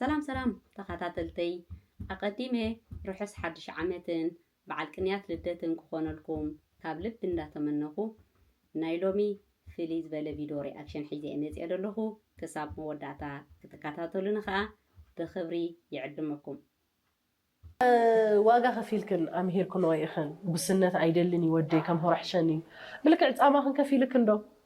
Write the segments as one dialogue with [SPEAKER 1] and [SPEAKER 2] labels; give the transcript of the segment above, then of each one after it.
[SPEAKER 1] ሰላም ሰላም ተኸታተልተይ ኣቐዲመ ርሑስ ሓድሽ ዓመትን በዓል ቅንያት ልደትን ክኾነልኩም ካብ ልቢ እንዳተመነኹ ናይ ሎሚ ፍልይ ዝበለ ቪዶ ሪኣክሽን ሒዘ መጺኤ ደለኹ ክሳብ መወዳእታ ክትካታተሉኒ ከኣ ብኽብሪ ይዕድመኩም።
[SPEAKER 2] ዋጋ ከፊልክን ኣምሂርክንኦ ኢኽን ጉስነት ኣይደልን እዩ ወደይ ከም ሆሮሕሸን እዩ ብልክዕ ጻማኽን ከፊልክን ዶ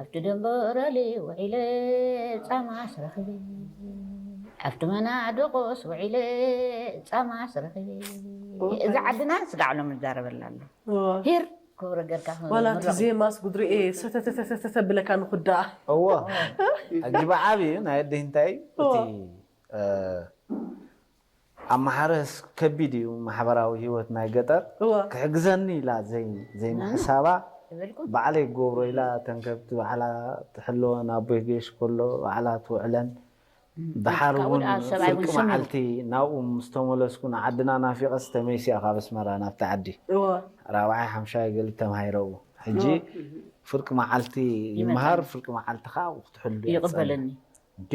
[SPEAKER 2] ኣብቲ
[SPEAKER 3] ደምበ ኦራሊ ውዒለ ጻማስ ረኺበ ኣብቲ መና ደቆስ ውዒለ ጻማስ ረኺበ እዚ ዓድና ስጋዕ ሎም ንዛረበላ ኣሎ ሂር ክብረ ገርካ ዋላ እቲ ዜማስ
[SPEAKER 2] ጉድሪኤ ሰተተተተተ ብለካ ንኹዳ እዎ
[SPEAKER 4] ኣጅባ ዓብዩ ናይ ኣደይ እንታይ እቲ ኣማሓረስ ከቢድ እዩ ማሕበራዊ ሂወት ናይ ገጠር ክሕግዘኒ ኢላ ዘይምሕሳባ ባዕለይ ክገብሮ ኢላ እተን ከብቲ ባዕላ ትሕልወን ኣቦይ ገሽ ከሎ ባዕላ ትውዕለን ደሓር እውን ፍርቂ መዓልቲ ናብኡ ምስ ተመለስኩ ንዓድና ናፊቐስ ተመይሰ እየ ካብ ኣስመራ ናብቲ ዓዲ ራብዓይ ሓምሻይ ገሊ ተማሂረ እው ሕጂ ፍርቂ መዓልቲ ይመሃር ፍርቂ መዓልቲ ከዓ ክትሕሉ እያ ትፀንሕ
[SPEAKER 3] እንዴ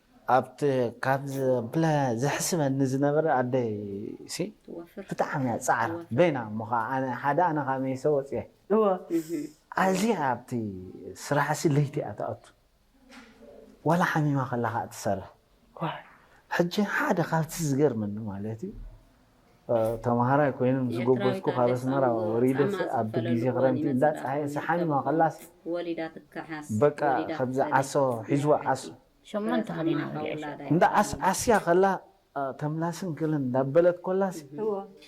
[SPEAKER 4] ኣብቲ ካብ ዝብለ ዘሕስበኒ ዝነበረ ኣደይሲ ብጣዕሚ እያ ጻዕራ በይና እሞ ከኣ ኣነ ሓደ ኣነ ከኣ መይሰ ወጽየ እወ
[SPEAKER 2] ኣዝያ
[SPEAKER 4] ኣብቲ ስራሕሲ ለይቲ እያ ትኣቱ ዋላ ሓሚማ ከላ ከኣ ትሰርሕ ሕጂ ሓደ ካብቲ ዝገርመኒ ማለት እዩ ተምሃራይ ኮይኖም ዝጎበዝኩ ካብ ኣስመራ ወሪደስ ኣብ ግዜ ክረምቲ እንዳ ጻሃየ ስሓንዋ ከላስ
[SPEAKER 1] በቃ ከምዚ
[SPEAKER 4] ዓሶ ሒዝዋ ዓሶ
[SPEAKER 3] እንዳ
[SPEAKER 4] ዓስዓስያ ከላ ተምላስን ክልን እንዳበለት ኮላስ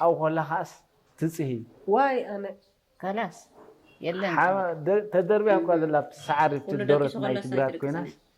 [SPEAKER 4] ኣብኡ ኮላ ከኣስ ትጽሂ ዋይ ኣነ
[SPEAKER 2] ከላስ
[SPEAKER 3] የለን ተደርብያ እኳ
[SPEAKER 4] ዘላ ኣብቲ ሰዓሪ ኣብቲ ደረት ማይ ትግራት ኮይናስ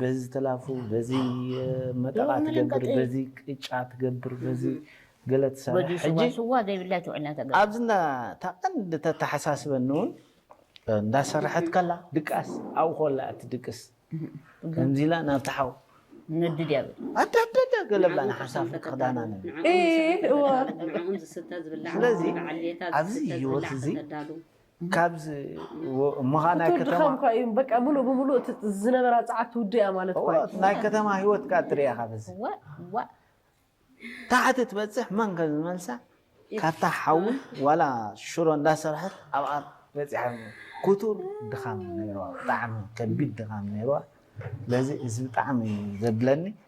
[SPEAKER 4] በዚ ዝተላፉ በዚ መጠቓ ትገብር በዚ ቅጫ ትገብር በዚ ገለ ትሰርሕ ሕጂ ሽዋ ሽዋ ዘይብላ
[SPEAKER 3] ትውዕልና ተገብር ኣብዚ እንዳ እታ
[SPEAKER 4] ቀንዲ ተተሓሳስበኒ እውን እንዳ ሰረሐት ከላ ድቃስ ኣብኡ ኮላ እያ ትድቅስ ከምዚ ኢላ ናብቲ ሓው ነዲ ድያ
[SPEAKER 3] በል ኣዳዳዳ ገለ
[SPEAKER 4] ብላ ንሓሳብ ክዳና ነ ንዕኦም ዝስተ
[SPEAKER 2] ዝብላዕ
[SPEAKER 1] ስለዚ ንበዓል ሌታ
[SPEAKER 4] ኣብዚ ዝስተ ህይወት ዝብላዕ እዚ ከተዳሉ ካብዚ ወ- እሞ ኸኣ ናይ ክትወዲ ከተማ ከም እኳ እዩ በቃ ምሉእ
[SPEAKER 2] ብምሉእ እቲ ዝነበራ ጸዓት ትውድእ እያ ማለት እኳ እዩ። እወ፣ ናይ ከተማ
[SPEAKER 4] ህይወት ከኣ ትርኣ ኢኻ በዚ እወ እወ ታሕቲ ትበጽሕ መን ከም ዝመልሳ ካብታ ሓዊ ዋላ ሽሮ እንዳሰርሐት ኣብኣ በጺሓ ክቱር ድኻም ነይርዋ ብጣዕሚ ከቢድ ድኻም ነይርዋ ስለዚ እዚ ብጣዕሚ እዩ ዘብለኒ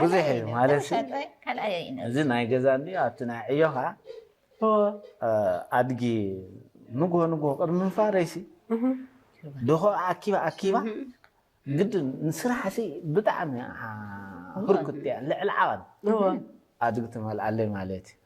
[SPEAKER 4] ብዙሕ እዩ ማለት እዚ ናይ ገዛ እንዲ ኣብቲ ናይ ዕዮ ከዓ
[SPEAKER 2] ኣድጊ
[SPEAKER 4] ንጉሆ ንጉሆ ቅድሚ ምንፋረይሲ ድኾ ኣኪባ ኣኪባ ግድን ንስራሕሲ ብጣዕሚ ህርኩት እያ ልዕሊ ዓቐን
[SPEAKER 2] ኣድጊ
[SPEAKER 4] ትመልኣለይ ማለት እዩ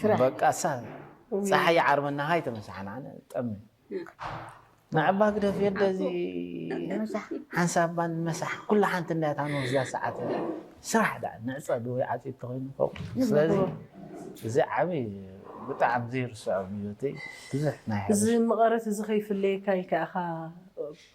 [SPEAKER 4] ስራሕ በቃ እሳ ፀሓይ ይዓርበና ሃይ ተመሳሓና ኣነ ጠሚ ንዕባ ግደፍ የደ እዚ ሓንሳብ ባን መሳሕ ኩላ ሓንቲ እንዳያት ኣነ ወስዳ ሰዓት ስራሕ ዳ ንዕፀ ዶ ይዓፂ ተኮይኑ ፎቅ ስለዚ እዚ ዓብይ ብጣዕሚ ዘይርስዖ ብዮተይ ብዙሕ ናይ እዚ መቐረት እዚ
[SPEAKER 2] ከይፍለየካ ኢልካ ኢኻ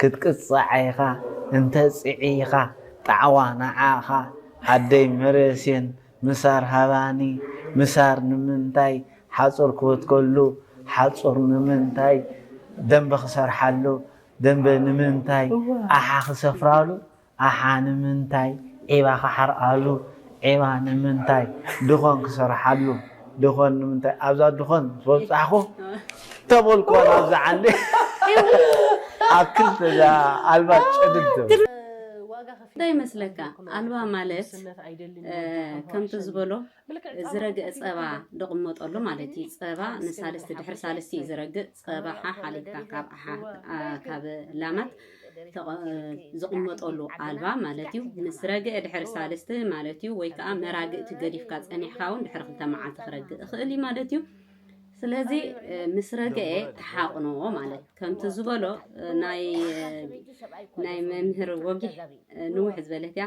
[SPEAKER 4] ክትቅጻዕ ኢኻ እንተ ጽዒኻ ጣዕዋ ንዓኻ ኣደይ መረሴን ምሳር ሃባኒ ምሳር ንምንታይ ሓጹር ክበትከሉ ሓጹር ንምንታይ ደምበ ክሰርሓሉ ደምበ ንምንታይ ኣሓ ክሰፍራሉ ኣሓ ንምንታይ ዒባ ክሓርኣሉ ዒባ ንምንታይ ድኾን ክሰርሓሉ ድኾን ንምንታይ ኣብዛ ድኾን ምስ በጻሕኩ ተበልኩዋ ናብዛ ዓንዲ ኣብ ክልተ እዛ ኣልባ ጨድድ ትብል። እንታይ ይመስለካ
[SPEAKER 1] ኣልባ ማለት ከምቲ ዝበሎ ዝረግእ ጸባ ድቕመጠሉ ማለት እዩ። ጸባ ንሳልስቲ ድሕሪ ሳልስቲ እዩ ዝረግእ። ጸባ ሓ ሓሊብካ ካብ ኣሓ ካብ ላማት ዝቕመጠሉ ኣልባ ማለት እዩ ምስ ረግአ ድሕሪ ሳልስቲ ማለት እዩ ወይ ከዓ መራግእቲ ገዲፍካ ፀኒሕካ እውን ድሕሪ ክልተ መዓልቲ ክረግእ ይኽእል እዩ ማለት እዩ ስለዚ ምስ ረግአ ተሓቕንዎ ማለት ከምቲ ዝበሎ ናይ መምህር ወጊሕ ንውሕ ዝበለት እያ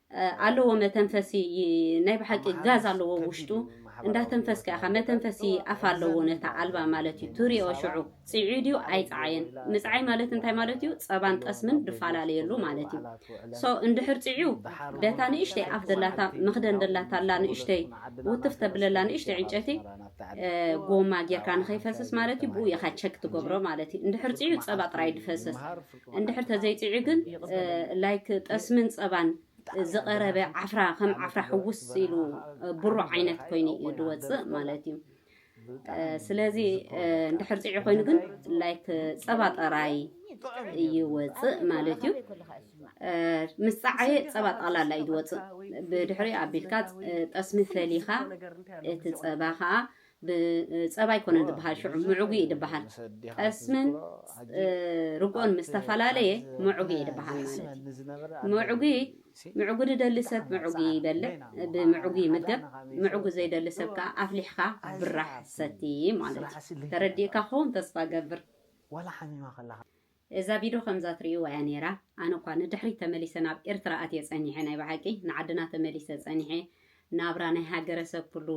[SPEAKER 1] ኣለዎ መተንፈሲ ናይ ብሓቂ ጋዝ ኣለዎ ኣብ ውሽጡ እንዳተንፈስካ ኢኻ መተንፈሲ ኣፍ ኣለዎ ነታ ኣልባ ማለት እዩ ትሪኦ ሽዑ ጽዒዩ ድዩ ኣይጸዓየን ምጽዓይ ማለት እንታይ ማለት እዩ ጸባን ጠስምን ድፈላለየሉ ማለት እዩ ሶ እንድሕር ጽዒዩ ደታ ንእሽተይ ኣፍ ደላታ መኽደን ደላታ ኣላ ንእሽተይ ውትፍ ተብለላ ንእሽተይ ዕንጨቲ ጎማ ጌርካ ንኸይፈስስ ማለት እዩ ብኡ ኢኻ ቸክ ትገብሮ ማለት እዩ እንድሕር ጽዒዩ ጸባ ጥራይ ድፈስስ እንድሕር ተዘይጢዑ ግን ላይክ ጠስምን ጸባን ዝቐረበ ዓፍራ ከም ዓፍራ ሕውስ ኢሉ ብሩ ዓይነት ኮይኑ እዩ ዝወፅእ ማለት እዩ ስለዚ እንድሕር ፅዒ ኮይኑ ግን ላይክ ፀባ ጠራይ ይወፅእ ማለት እዩ ምስ ፀዓየ ፀባ ጠቕላላ እዩ ዝወፅእ ብድሕሪ ኣቢልካ ጠስሚ ፈሊኻ እቲ ፀባ ከዓ ብጸባ ኣይኮነን ዝብሃል ሽዑ ምዕጉ እዩ ዝብሃል ጠስምን ርግኦን ምስ ተፈላለየ ምዕጉ እዩ ዝብሃል ማለት እዩ ምዕጉ ምዕጉ ዝደሊ ሰብ ምዕጉ ይበልዕ ብምዕጉ ይምገብ ምዕጉ ዘይደሊ ሰብ ከኣ ኣፍሊሕኻ ብራሕ ሰቲ ማለት እዩ ተረዲእካ ክኸውን ተስፋ እገብር።
[SPEAKER 4] እዛ ቪዶ ከምዛ
[SPEAKER 1] ትርእይዋ እያ ኔራ ኣነ እኳ ንድሕሪት ተመሊሰ ናብ ኤርትራ ኣትየ ጸኒሐ ናይ ብሓቂ ንዓድና ተመሊሰ ጸኒሐ ናብራ ናይ ሃገረ ሰብ ኩሉ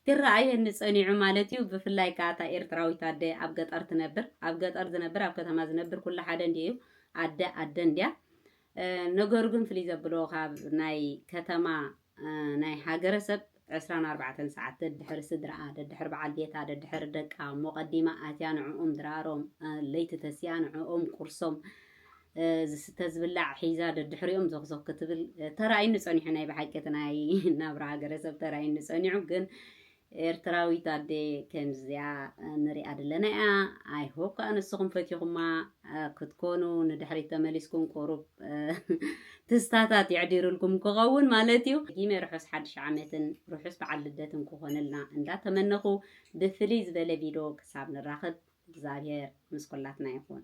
[SPEAKER 1] ክረኣየኒ ጸኒዑ ማለት እዩ ብፍላይ ከኣ እታ ኤርትራዊት ኣደ ኣብ ገጠር ትነብር ኣብ ገጠር ዝነብር ኣብ ከተማ ዝነብር ኩሉ ሓደ እንዲዩ እዩ ኣደ ኣደ እንዲያ ነገሩ ግን ፍልይ ዘብሎ ካብ ናይ ከተማ ናይ ሃገረ ሰብ ዕስራን ኣርባዕተን ሰዓት ደድሕሪ ስድርኣ ደድሕሪ በዓል ቤታ ደድሕሪ ደቃ እሞ ቀዲማ ኣትያ ንዕኦም ድራሮም ለይቲ ተሲኣ ንዕኦም ቁርሶም ዝስተ ዝብላዕ ሒዛ ደድሕሪኦም ዞኽዞኽ ክትብል ተራእዩኒ ጸኒሑ ናይ ብሓቂ እቲ ናይ ናብራ ሃገረሰብ ተራእዩኒ ጸኒዑ ግን ኤርትራዊት ኣደ ከምዚኣ ንሪኣ ድለና እያ ኣይ ሆፕ ካኣ ንስኩም ፈቲኩማ ክትኮኑ ንድሕሪት ተመሊስኩም ቁሩብ ትዝታታት የዕዲርልኩም ክከውን ማለት እዩ ጊመ ርሑስ ሓድሽ ዓመትን ርሑስ በዓል ልደትን ክኮነልና እንዳ ተመነኩ ብፍልይ ዝበለ ቪዶ ክሳብ ንራከብ እግዚኣብሔር ምስ ኩላትና ይኩን።